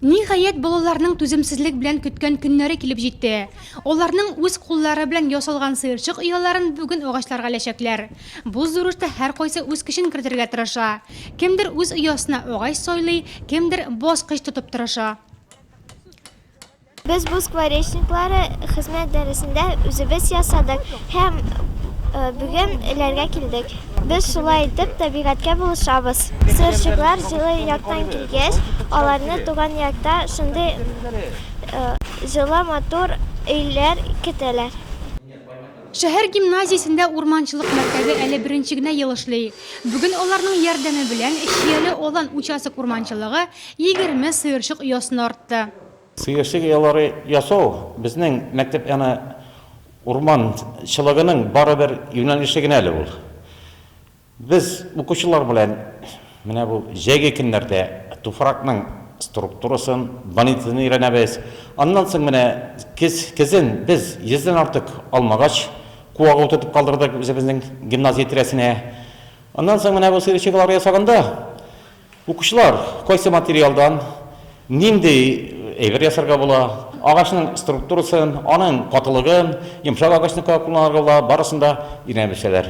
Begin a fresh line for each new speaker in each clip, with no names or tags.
Ниһаять, балаларның түземсезлек белән көткән көннәре килеп җитте. Аларның үз куллары белән ясалган сыерчык ояларын бүген агачларга эләчәкләр. Бу зур эштә һәркайсы үз көчен кертергә тырыша. Кемдер үз оясына агач сайлый, кемдер бас кыч тотып тырыша.
Без бу скворечниклары хезмәт дәресендә үзебез ясадык һәм бүген эләргә килдек. Без шулай итеп табигатькә булышабыз. Сыерчыклар җылы яктан килгәч, аларны туган якта шундый җылы, матур өйләр көтәләр.
Шәһәр гимназиясендә урманчылык мәктәбе әле беренче генә ел эшли. Бүген аларның ярдәме белән Чияле Алан участок урманчылыгы егерме сыерчык оясына артты. Сыерчык оялары
ясау безнең мәктәп яны урман чылыгының бары бер юнәлеше генә әле ул. Без укучылар белән менә бу җәйге көннәрдә туфракның структурасын, бонитетын өйрәнәбез. Аннан соң менә көз, көзен без йөздән артык алмагач куагы утыртып калдырдык үзебезнең гимназия тирәсенә. Аннан соң менә бу сыерчык оялары ясаганда, Укучылар, кайсы материалдан нинди әйбер ясарга була, агачның структурасын, аның катылыгын, йомшак агачны кая кулланырга була, барысын да өйрәнәбелсәләр.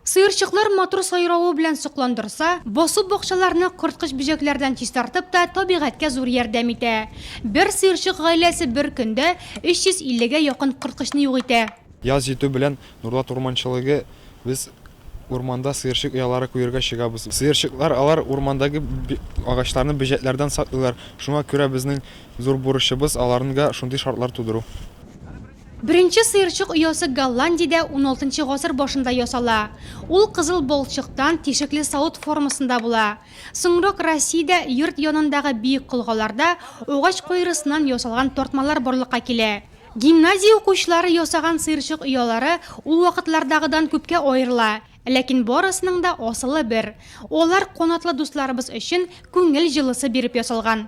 Сыерчыклар матур сайравы белән сокландырса, басу бакчаларны корткыч-бөҗәкләрдән чистартып та табигатькә зур ярдәм итә. Бер сыерчык гаиләсе бер көндә 350 гә якын корткычны юк итә. Яз җитү белән
Нурлат урманчылыгы, Без урманда сыерчык оялары куерга чыгабыз. Сыерчыклар, алар урмандагы агачларны бөҗәкләрдән саклыйлар. Шуңа күрә безнең зур бурычыбыз, аларнга шундый шартлар тудыру.
Беренче сыерчык оясы Голландиядә уналтынчы гасыр башында ясала. Ул кызыл балчыктан, тишекле савыт формасында була. Соңрак Россиядә йорт янындагы биек колгаларда агач куерысыннан ясалган тартмалар барлыкка килә. Гимназия укучылары ясаган сыерчык оялары ул вакытлардагыдан күпкә аерыла, ләкин барысының да асылы бер, алар канатлы дусларыбыз өчен күңел җылысы биреп ясалган.